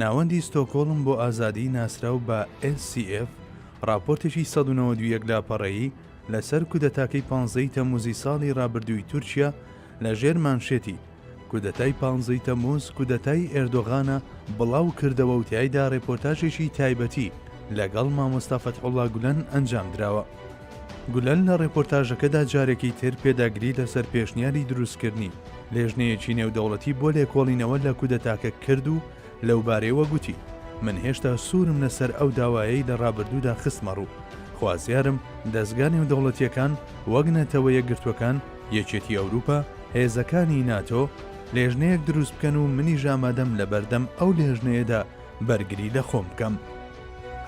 ناوەندی ستۆکۆڵم بۆ ئازادی ناسراو بە SCF ڕاپۆرتێکی سەد و نەوەد و یەک لاپەڕەیی لەسەر کودەتاکەی پانزەی تەموزی ساڵی ڕابردووی تورکیا لە ژێر مانشێتی کودەتای پانزەی تەموز کودەتای ئێردۆغانە بڵاو کردەوە و تیایدا ڕێپۆرتاژێکی تایبەتی لەگەڵ مامۆستا فەتحوڵا گولەن ئەنجام دراوە. گولەن لە ڕێپۆرتاژەکەدا جارێکی تر پێداگری لەسەر پێشنیاری دروستکردنی لێژنەیەکی نێودەوڵەتی بۆ لێکۆڵینەوە لە کودەتاکە کرد و لەوبارەیەوە گوتی من هێشتا سوورم لەسەر ئەو داوایەی لە ڕابردوودا خستمە ڕوو خوازیارم دەستگا نێودەوڵەتیەکان وەک نەتەوە یەکگرتوەکان یەکێتی ئەوروپا هێزەکانی ناتۆ لێژنەیەک دروست بکەن و منیش ئامادەم لە بەردەم ئەو لێژنەیەدا بەرگری لە خۆم بکەم.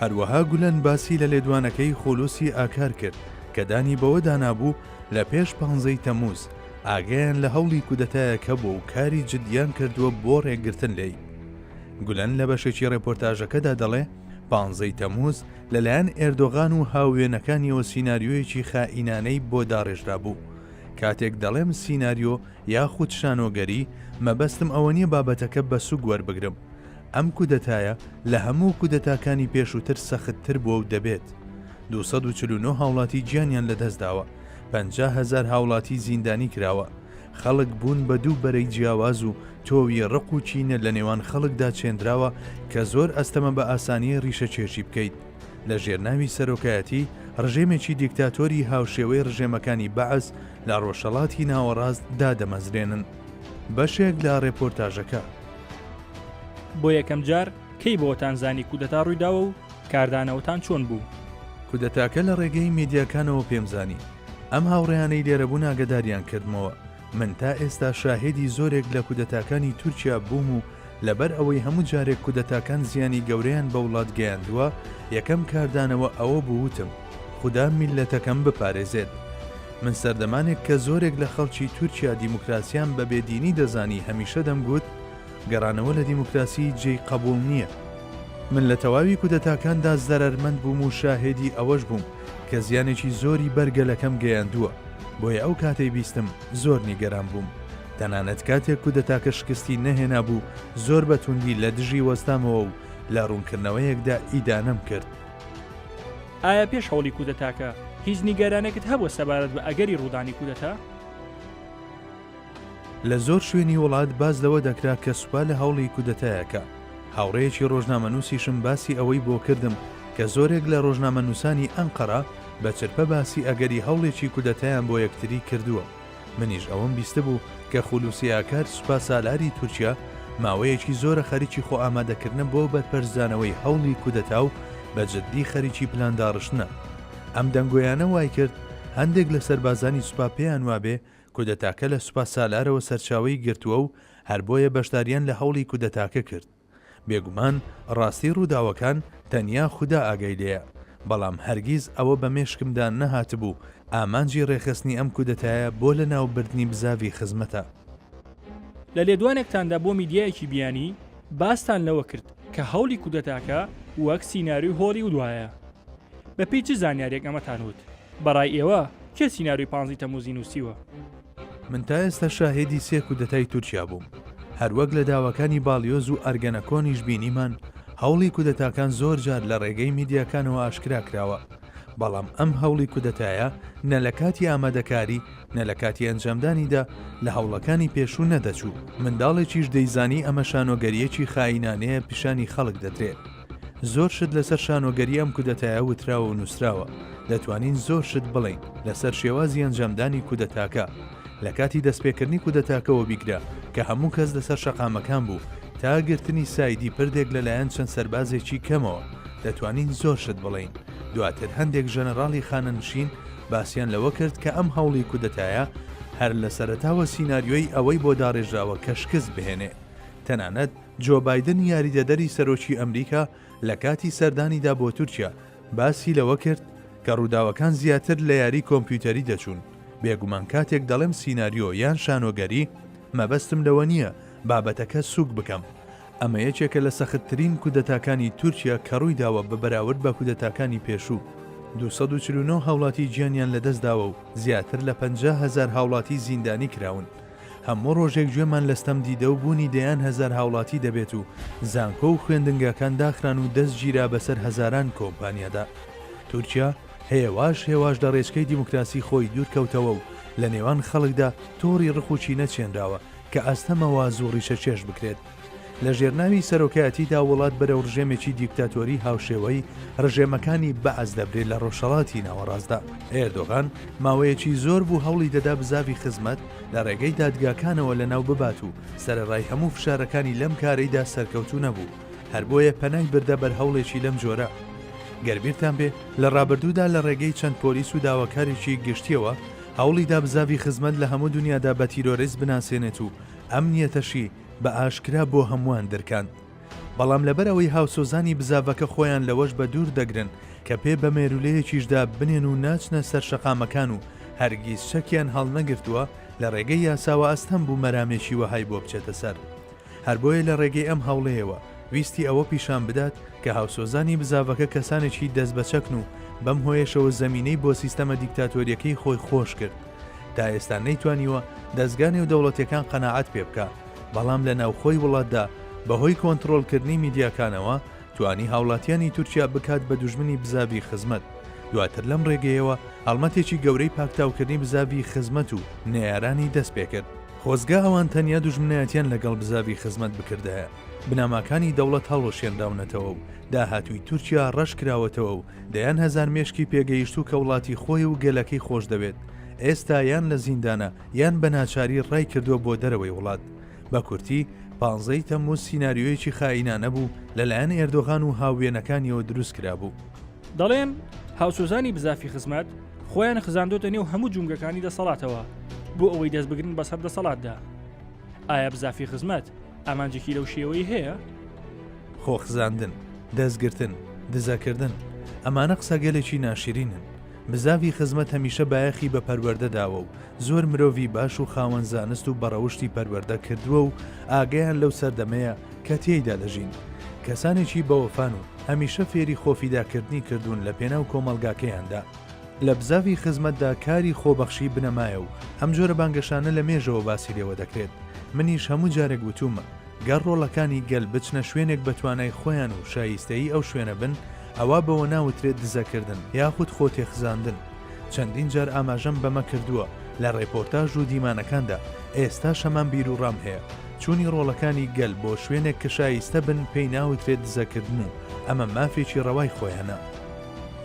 هەروەها گولەن باسی لە لێدوانەکەی خولوسی ئاکار کرد کە دانی بەوەدا نابوو لە پێش پانزە ی تەموز ئاگایان لە هەوڵی کودەتایەک هەبووە و کاری جدیان کردووە بۆ ڕێگرتن لێی. گولەن لە بەشێکی ڕێپۆرتاژەکەدا دەڵێ پانزە ی تەموز لەلایەن ئێردۆغان و هاووێنەکانیەوە سیناریۆیەکی خائینانەی بۆ داڕێژرابوو. کاتێک دەڵێم سیناریۆ یاخود شانۆگەری مەبەستم ئەوەنیە بابەتەکە بە سوک وەربگرم، ئەم کودەتایە لە هەموو کودەتاکانی پێشووتر سەختتر بووە و دەبێت. دوو سەد و چل و نۆ هاوڵاتی گیانیان لەدەستداوە، پەنجا هەزار هاوڵاتی زیندانی کراوە، خەڵک بوون بە دوو بەرەی جیاواز و تۆوی ڕق و کینە لە نێوان خەڵکدا چێندراوە کە زۆر ئەستەمە بە ئاسانی ڕیشەکێشی بکەیت لە ژێرناوی سەرۆکایەتی ڕژێمێکی دیکتاتۆری هاوشێوەی ڕژێمەکانی بەعس لە ڕۆژهەڵاتی ناوەڕاست دادەمەزرێنن. بەشێک لە ڕێپۆرتاژەکە. بۆ یەکەم جار کەی بۆتان زانی کودەتا ڕوویداوە و کاردانەوەتان چۆن بوو؟ کودەتاکە لە ڕێگەی میدیاکانەوە پێم زانی. ئەم هاوڕێیانەی لێرە بوون ئاگەداریان کردمەوە. من تا ئێستا شاهێدی زۆرێک لە کودەتاکانی تورکیا بووم و لەبەر ئەوەی هەموو جارێک کودەتاکان زیانی گەورەیان بە وڵات گەیاندووە، یەکەم کاردانەوە ئەوە بوو وتم، خودا میللەتەکەم بپارێزێت. من سەردەمانێک کە زۆرێک لە خەڵکی تورکیا دیموکراسیان بە بێ دینی دەزانی هەمیشە دەمگوت گەڕانەوە لە دیموکراسی جێی قەبووڵ نییە. من لە تەواوی کودەتاکاندا زەرەرمەند بووم و شاهێدی ئەوەش بووم کە زیانێکی زۆری بەر گەلەکەم گەیاندووە، بۆیە ئەو کاتەی بیستم زۆر نیگەران بووم. تەنانەت کاتێک کودەتاکە شکستی نەهێنابوو زۆر بە توندی لە دژی وەستامەوە و لە ڕوونکردنەوەیەکدا ئیدانەم کرد. ئایا پێش هەوڵی کودەتاکە هیچ نیگەرانێکت هەبووە سەبارەت بە ئەگەری ڕوودانی کودەتا؟ لە زۆر شوێنی وڵات باس لەوە دەکرا کە سوپا لە هەوڵی کودەتایەکە. هاوڕێیەکی ڕۆژنامەنووسیشم باسی ئەوەی بۆ کردم کە زۆرێک لە ڕۆژنامەنووسانی ئەنقەرە بە چرپە باسی ئەگەری هەوڵێکی کودەتایان بۆ یەکتری کردووە. منیش ئەوەم بیستبوو کە خولوسی ئاکار سوپاسالاری تورکیا ماوەیەکی زۆرە خەریکی خۆ ئامادەکردنە بۆ بەرپەرچدانەوەی هەوڵی کودەتا و بە جددی خەریکی پلان داڕشتنە. ئەم دەنگۆیانە وایکرد هەندێک لە سەربازانی سوپا پێیان وابێ کودەتاکە لە سوپاسالارەوە سەرچاوەی گرتووە و هەر بۆیە بەشداریان لە هەوڵی کودەتاکە کرد. بێگومان ڕاستی ڕووداوەکان تەنیا خودا ئاگای لێیە، بەڵام هەرگیز ئەوە بە مێشکمدا نەهاتبوو ئامانجی ڕێکخستنی ئەم کودەتایە بۆ لەناوبردنی بزاڤی خزمەتە. لە لێدوانێکتاندا بۆ میدیایەکی بیانی، باستان لەوە کرد کە هەوڵی کودەتاکە وەک سیناریۆی هۆڵیودایە. بەپێی چ زانیارییەک ئەمەتان وت؟ بەڕای ئێوە کێ سیناریۆی پانزەی تەمووزی نووسیوە؟ من تا ئێستا شاهێدی سێ کودەتای تورکیا بووم، هەروەک لە داواکانی باڵیۆز و ئەرگەنەکۆنیش بینیمان، هەوڵی کودەتاکان زۆر جار لە ڕێگەی میدیاکانەوە ئاشکرا کراوە، بەڵام ئەم هەوڵی کودەتایە نە لە کاتی ئامادەکاری، نە لە کاتی ئەنجامدانیدا لە هەوڵەکانی پێشوو نەدەچوو. منداڵێکیش دەیزانی ئەمە شانۆگەرییەکی خائینانەیە پیشانی خەڵک دەدرێت. زۆر شت لەسەر شانۆگەری ئەم کودەتایە وتراوە و نووسراوە، دەتوانین زۆر شت بڵێین لەسەر شێوازی ئەنجامدانی کودەتاکە، لە کاتی دەستپێکردنی کودەتاکەوە بیگرە کە هەموو کەس لەسەر شەقامەکان بوو تا گرتنی سایدی پردێک لەلایەن چەند سەربازێکی کەمەوە، دەتوانین زۆر شت بڵێین، دواتر هەندێک ژەنەراڵی خانەنشین باسیان لەوە کرد کە ئەم هەوڵی کودەتایە هەر لە سەرەتاوە سیناریۆی ئەوەی بۆ داڕێژراوە کە شکست بهێنێ، تەنانەت. جۆ بایدن یاریدەدەری سەرۆکی ئەمریکا لە کاتی سەردانیدا بۆ تورکیا باسی لەوە کرد کە ڕووداوەکان زیاتر لە یاری کۆمپیوتەری دەچوون، بێگومان کاتێک دەڵێم سیناریۆ یان شانۆگەری مەبەستم لەوە نییە بابەتەکە سووک بکەم، ئەمە یەکێکە لە سەختترین کودەتاکانی تورکیا کە ڕوویداوە بە بەراورد بە کودەتاکانی پێشوو، دوو سەد و چل و نۆ هاوڵاتی گیانیان لەدەستداوە و زیاتر لە پەنجا هەزار هاوڵاتی زیندانی کراون. هەموو ڕۆژێک گوێمان لە ستەم دیدە و بوونی دەیان هەزار هاوڵاتی دەبێت و زانکۆ و خوێندنگاکان داخران و دەست گیرا بەسەر هەزاران کۆمپانیادا. تورکیا هێواش هێواش لە ڕێچکەی دیموکراسی خۆی دوورکەوتەوە و لە نێوان خەڵکدا تۆڕی ڕق و کینە چێنراوە کە ئەستەمە واز و ڕیشەکێش بکرێت. لە ژێرناوی سەرۆکایەتیدا وڵات بەرەو ڕژێمێکی دیکتاتۆری هاوشێوەی ڕژێمەکانی بەعس دەبرێت لە ڕۆژهەڵاتی ناوەڕاستدا ئێردۆغان ماوەیەکی زۆر بوو هەوڵی دەدا بزاڤی خزمەت لە ڕێگەی دادگاکانەوە لەناو ببات و سەرەڕای هەموو فشارەکانی لەم کارەیدا سەرکەوتوو نەبوو هەر بۆیە پەنای بردە بەر هەوڵێکی لەم جۆرە گەربیرتان بێ لە ڕابردوودا لە ڕێگەی چەند پۆلیس و داواکارێکی گشتیەوە هەوڵی دابزاوی خزمەت لە هەموو دنیادا بە تیرۆریست بناسێنێت و ئەمنیەتەشی بە ئاشکرا بۆ هەمووان درکاند. بەڵام لەبەر ئەوەی هاوسۆزانی بزاڤەکە خۆیان لەوەش بە دوور دەگرن کە پێ بە مێروولەیەکیشدا بنێن و ناچنە سەر شەقامەکان و هەرگیز چەکیان هەڵنەگرتووە، لە ڕێگەی یاساوە ئەستەم بوو مەرامێکی وەهای بۆ بچێتە سەر. هەر بۆیە لە ڕێگەی ئەم هەوڵەیەوە ویستی ئەوە پیشان بدات کە هاوسۆزانی بزاڤەکە کەسانێکی دەست بە چەکن و بەم هۆیەشەوە زەمینەی بۆ سیستەمە دیکتاتۆرییەکەی خۆی خۆش کرد. تا ئێستا نەیتوانیوە دەزگا نێودەوڵەتیەکان قەناعەت پێ بکا بەڵام لە ناوخۆی وڵاتدا بەهۆی کۆنتڕۆڵکردنی میدیاکانەوە توانی هاوڵاتیانی تورکیا بکات بە دوژمنی بزاڤی خزمەت دواتر لەم ڕێگەیەوە هەڵمەتێکی گەورەی پاکتاوکردنی بزاڤی خزمەت و نەیارانی دەست پێکرد خۆزگە ئەوان تەنیا دوژمنایەتیان لەگەڵ بزاڤی خزمەت بکردایە بنەماکانی دەوڵەت هەڵوەشێنراونەتەوە و داهاتووی تورکیا ڕەش کراوەتەوە و دەیان هەزار مێشکی پێگەیشتوو کە وڵاتی خۆی و گەلەکەی خۆشدەوێت، ئێستا یان لە زیندانە یان بە ناچاری ڕای کردووە بۆ دەرەوەی وڵات. بە کورتی، پانزە ی تەمموز سیناریۆیەکی خائینانە بوو لەلایەن ئێردۆغان و هاووێنەکانیەوە دروست کرابوو. دەڵێن هاوسۆزانی بزافی خزمەت خۆیان خزاندۆتە نێو هەموو جومگەکانی دەسەڵاتەوە بۆ ئەوەی دەست بگرن بەسەر دەسەڵاتدا. ئایا بزافی خزمەت ئامانجێکی لەو شێوەی هەیە؟ خۆخزاندن، دەستگرتن، دزەکردن، ئەمانە قسەگەلێکی ناشرینن. بزاڤی خزمەت هەمیشە بایەخی بە پەروەەردە داوە و زۆر مرۆڤی باش و خاوەن زانست و بەڕەوشتی پەروەەردە کردووە و ئاگیان لەو سەردەمەیە کە تێیدا دەژین. کەسانێکی بەوەفان و هەمیشە فێری خۆفیداکردنی کردوون لە پێناو کۆمەلگاکەیاندا. لە بزاڤی خزمەتدا کاری خۆبەخشی بنەمایە و ئەم جۆرە بانگەشانە لە مێژەوە باسی لێوە دەکرێت. منیش هەموو جارێک وتوومە، گەر ڕۆڵەکانی گەل بچنە شوێنێک بە توانای خۆیان و شایستەیی ئەو شوێنە بن، ئەوا بەوە ناوترێت دزەکردن یاخود خۆ تێخزاندن. چەندین جار ئاماژەم بەمە کردووە لە ڕێپۆرتاژ و دیمانەکاندا، ئێستاش هەمان بیروڕام هەیە، چوونی ڕۆڵەکانی گەل بۆ شوێنێک کە شایستە بن پێی ناوترێت دزەکردن و ئەمە مافێکی ڕەوای خۆیانە.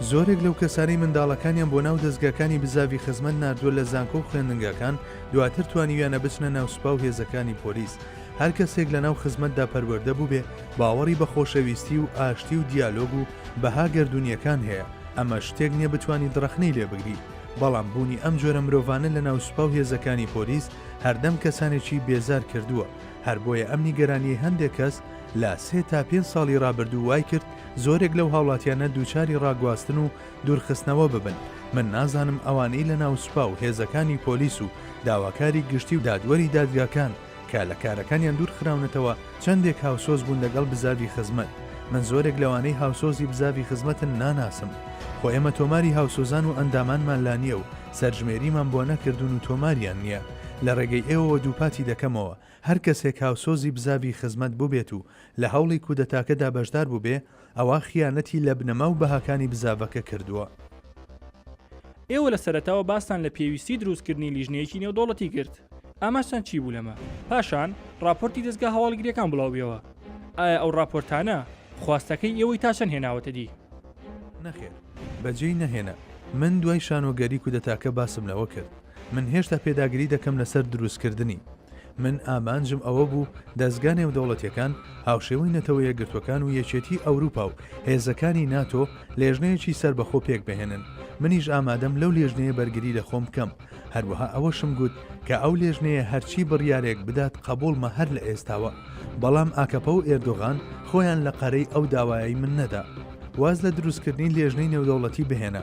زۆرێک لەو کەسانەی منداڵەکانیان بۆ ناو دەزگاکانی بزاڤی خزمەت ناردووە لە زانکۆ و خوێندنگاکان دواتر توانیویانە بچنە ناو سوپا و هێزەکانی پۆلیس، هەر کەسێک لە ناو خزمەتدا پەروەردە بووبێ باوەڕی بە خۆشەویستی و ئاشتی و دیالۆگ و بەها گەردوونییەکان هەیە، ئەمە شتێک نییە بتوانیت ڕەخنەی لێ بگری، بەڵام بوونی ئەم جۆرە مرۆڤانە لە ناو سوپا و هێزەکانی پۆلیس هەردەم کەسانێکی بێزار کردووە، هەر بۆیە ئەم نیگەرانییەی هەندێک کەس لە سێ تا پێنج ساڵی ڕابردوو وای کرد زۆرێک لەو هاوڵاتیانە دووچاری ڕاگواستن و دوورخستنەوە ببن، من نازانم ئەوانەی لە ناو سوپا و هێزەکانی پۆلیس و داواکاری گشتی و دادوەری دادگاکان کە لە کارەکانیان دوور خراونەتەوە چەندێک هاوسۆز بوون لەگەڵ بزاڤی خزمەت، من زۆرێک لەوانەی هاوسۆزی بزاڤی خزمەتن ناناسم، خۆ ئێمە تۆماری هاوسۆزان و ئەندامانمان لا نییە و سەرژمێریمان بۆ نەکردوون و تۆماریان نییە، لە ڕێگەی ئێوەوە دووپاتی دەکەمەوە، هەر کەسێک هاوسۆزی بزاڤی خزمەت بووبێت و لە هەوڵی کودەتاکەدا بەشدار بووبێ، ئەوا خیانەتی لە بنەما و بەهاکانی بزاڤەکە کردووە. ئێوە لە سەرەتاوە باستان لە پێویستی دروستکردنی لیژنەیەکی نێودەوڵەتی کرد. ئاماجتان چی بوو لەمە؟ پاشان ڕاپۆرتی دەزگا هەواڵگرییەکان بڵاوبیەوە. ئایا ئەو ڕاپۆرتانە خواستەکەی ئێوەی تا چەند هێناوەتە دی؟ نەخێر، بەجێی نەهێنا. من دوای شانۆگەری کودەتاکە باسم لەوە کرد. من هێشتا پێداگری دەکەم لەسەر دروستکردنی. من ئامانجم ئەوە بوو دەزگا نێودەوڵەتیەکان، هاوشێوەی نەتەوە یەکگرتوەکان و یەکێتی ئەوروپا و هێزەکانی ناتۆ، لێژنەیەکی سەربەخۆ پێکبهێنن. منیش ئامادەم لەو لێژنەیە بەرگری لە خۆم بکەم. هەروەها ئەوەشم گوت کە ئەو لێژنەیە هەرچی بڕیارێک بدات قەبوڵمە هەر لە ئێستاوە. بەڵام ئاکەپە و ئێردۆغان خۆیان لە قەرەی ئەو داوایەی من نەدا. واز لە دروستکردنی لێژنەی نێودەوڵەتی بهێنە.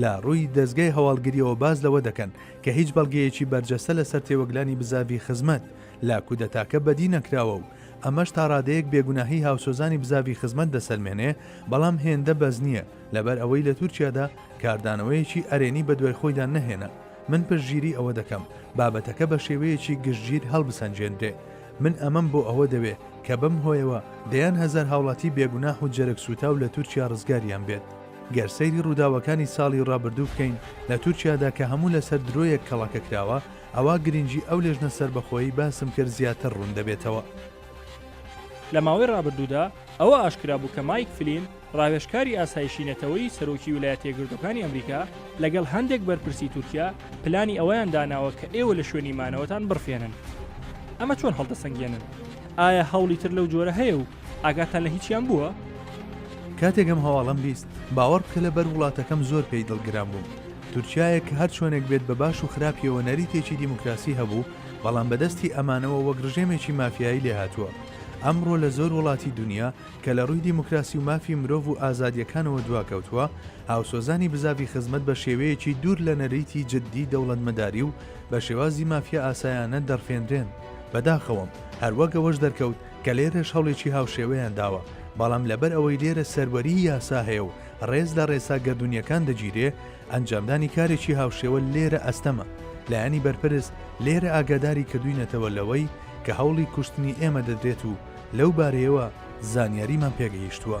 لە ڕووی دەزگای هەواڵگرییەوە باس لەوە دەکەن کە هیچ بەڵگەیەکی بەرجەستە لەسەر تێوەگلانی بزاڤی خزمەت لە کودەتاکە بەدی نەکراوە و ئەمەش تاڕادەیەک بێگوناهی هاوسۆزانی بزاڤی خزمەت دەسەلمێنێ بەڵام هێندە بەس نییە لەبەر ئەوەی لە تورکیادا کاردانەوەیەکی ئەرێنی بەدوای خۆیدا نەهێنا من پشتگیری ئەوە دەکەم بابەتەکە بە شێوەیەکی گشتگیر هەڵبسەنگێنرێ من ئەمەم بۆ ئەوە دەوێ کە بەم هۆیەوە دەیان هەزار هاوڵاتی بێگوناح و جەرگ سووتاو لە تورکیا ڕزگاریان بێت. گەر سەیری ڕووداوەکانی ساڵی ڕابردوو بکەین لە تورکیادا کە هەموو لەسەر درۆیەک کەڵەکە کراوە، ئەوا گرنگی ئەو لێژنە سەربەخۆیەی باسم کرد زیاتر ڕوون دەبێتەوە. لە ماوەی ڕابردوودا ئەوە ئاشکرا بوو کە مایک فلین، ڕاوێژکاری ئاسایشی نەتەوەیی سەرۆکی ولایەتە یەکگرتووەکانی ئەمریکا، لەگەڵ هەندێک بەرپرسی تورکیا پلانی ئەوەیان داناوە کە ئێوە لە شوێنی مانەوەتان بڕفێنن. ئەمە چۆن هەڵدەسەنگێنن؟ ئایا هەوڵی تر لەو جۆرە هەیە و ئاگاتان لە هیچیان بووە؟ کاتێک ئەم هەواڵەم بیست باوەڕ بکە لە بەر وڵاتەکەم زۆر پێی دڵگران بووم تورکایە کە هەر چۆنێک بێت بە باش و خراپیەوە نەریتێکی دیموکراسی هەبوو بەڵام بەدەستی ئەمانەوە وەک ڕژێمێکی مافیایی لێهاتووە ئەمڕۆ لە زۆر وڵاتی دنیا کە لە ڕووی دیموکراسی و مافی مرۆڤ و ئازادیەکانەوە دواکەوتووە هاوسۆزانی بزاوی خزمەت بە شێوەیەکی دوور لە نەریتی جددی دەوڵەتمەداری و بە شێوازی مافیا ئاسایانە دەڕفێنرێن بەداخەوەم هەروەک ئەوەش دەرکەوت کە لێرەش هەوڵێکی هاوشێوەیان داوە، بەڵام لەبەر ئەوەی لێرە سەروەریی یاسا هەیە و ڕێز لە ڕێسا گەردوونییەکان دەگیرێ، ئەنجامدانی کارێکی هاوشێوە لێرە ئەستەمە. لایەنی بەرپرس لێرە ئاگاداری کردووینەتەوە لەوەی کە هەوڵی کوشتنی ئێمە دەدرێت و لەو بارەیەوە زانیاریمان پێگەیشتووە.